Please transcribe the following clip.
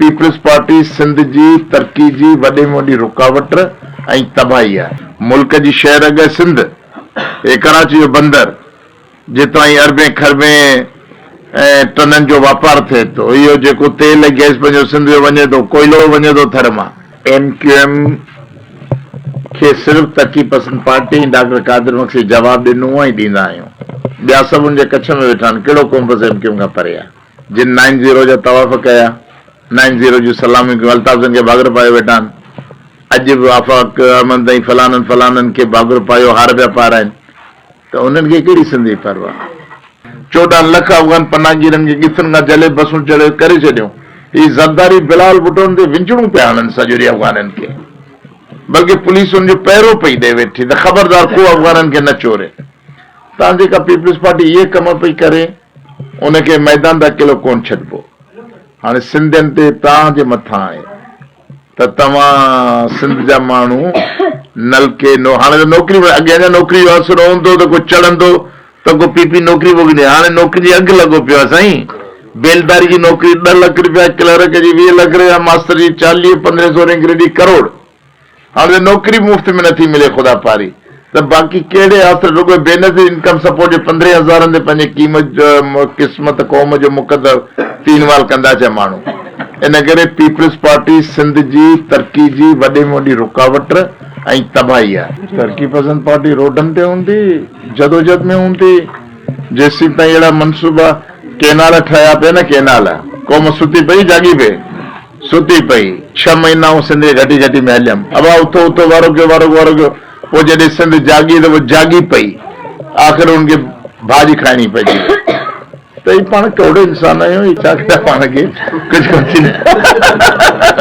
Peoples party Sindh جي ترقي جي وڏي ۾ وڏي رڪاوٽ ۽ تباهي آهي. ملڪ جي شهر اڳئي سنڌ ۽ ڪراچي جو بندر جتان ئي اربين کربين ٽنن جو واپار ٿئي ٿو. اهو جيڪو تيل ۽ گئس پنهنجو سنڌ جو وڃي ٿو، ڪوئلو وڃي ٿو ٿر مان. ايم ڪيو ايم کي صرف ترقي پسند پارٽي ۽ ڊاڪٽر قادر مگسي جواب ڏنو ۽ ڏيندا آهيون. ٻيا سڀ ان جي ڪڇ ۾ ويٺا آهن. ڪهڙو قوم بس ايم ڪيو ايم کان پري آهي. جن نائن زيرو جا طواف ڪيا، نائن زيرو جون سلاميون ڪيون، الطاف جن کي ڀاڳر پايو ويٺا آهن. اڄ به آفاق احمد ۽ فلانن فلانن کي ڀاڳر پايو هار پيا پارائين ته انهن کي ڪهڙي سنڌ جي پرواهه آهي. چوڏهن لک افغان پناهگيرن کي ڳٿن کان جهلي بسون چڙهي ڪري ڇڏيو. هي زرداري بلال ڀٽون تي وڃڻون پيا هڻن سڄوري افغانن کي. بلڪه پوليس ان جو پهرو پئي ڏئي ويٺي ته خبردار ڪو افغانن کي نه چوري. تان جيڪا پيپلز پارٽي اهي ڪم پئي ڪري. ان کي ميدان تي اڪيلو ڪونه ڇڏبو. هاڻي سنڌين تي توهان جي مٿان آهي ته توهان سنڌ جا ماڻهو نلڪي نو هاڻي ته نوڪري به اڳي اڃا نوڪري جو آسرو هوندو ته ڪو چڙهندو ته ڪو پي پي نوڪري به ڏي هاڻي نوڪرين جي اگهه لڳو پيو آهي سائين بيلداري جي نوڪري ڏهه لک رپيا ڪلرڪ جي ويهه لک رپيا ماستر جي چاليهه پندرهين سورهين گريڊ جي ڪروڙ هاڻ ته نوڪري به مفت ۾ نه ٿي ملي خدا پاري ته باقي ڪهڙي آسري رڳو بي نظير انڪم سپورٽ جي پندرهين هزارن تي پنهنجي قيمت قسمت قوم جو مقدر فينوال ڪندا ڇا ماڻهو ان ڪري پيپلز پارٽي سنڌ جي ترقي جي وڏي ۾ وڏي رڪاوٽ ۽ تباهي آهي. ترقي پسند پارٽي روڊن تي هوندي جدوجھد ۾ هوندي جيسين تائين اهڙا منصوبا ڪينال ٺهيا پئي نه ڪينال قوم ستي پئي جاڳي پئي. ستي پئي. ڇهه مهينا آئون سنڌ جي گهٽي گهٽي ۾ هليم. ابا اٿو اٿو، وارو ڪيو، وارو ڪيو، وارو ڪيو. پوء جڏهن سنڌ جاڳي ته پوء جاڳي پئي. آخر هن کي ڀاڄي کائڻي پئجي وئي. ته هي پاڻ ڪهڙو انسان آهيون، هي ڇا ڪيو پاڻ کي. ڪجهه ڪونه ٿيندو.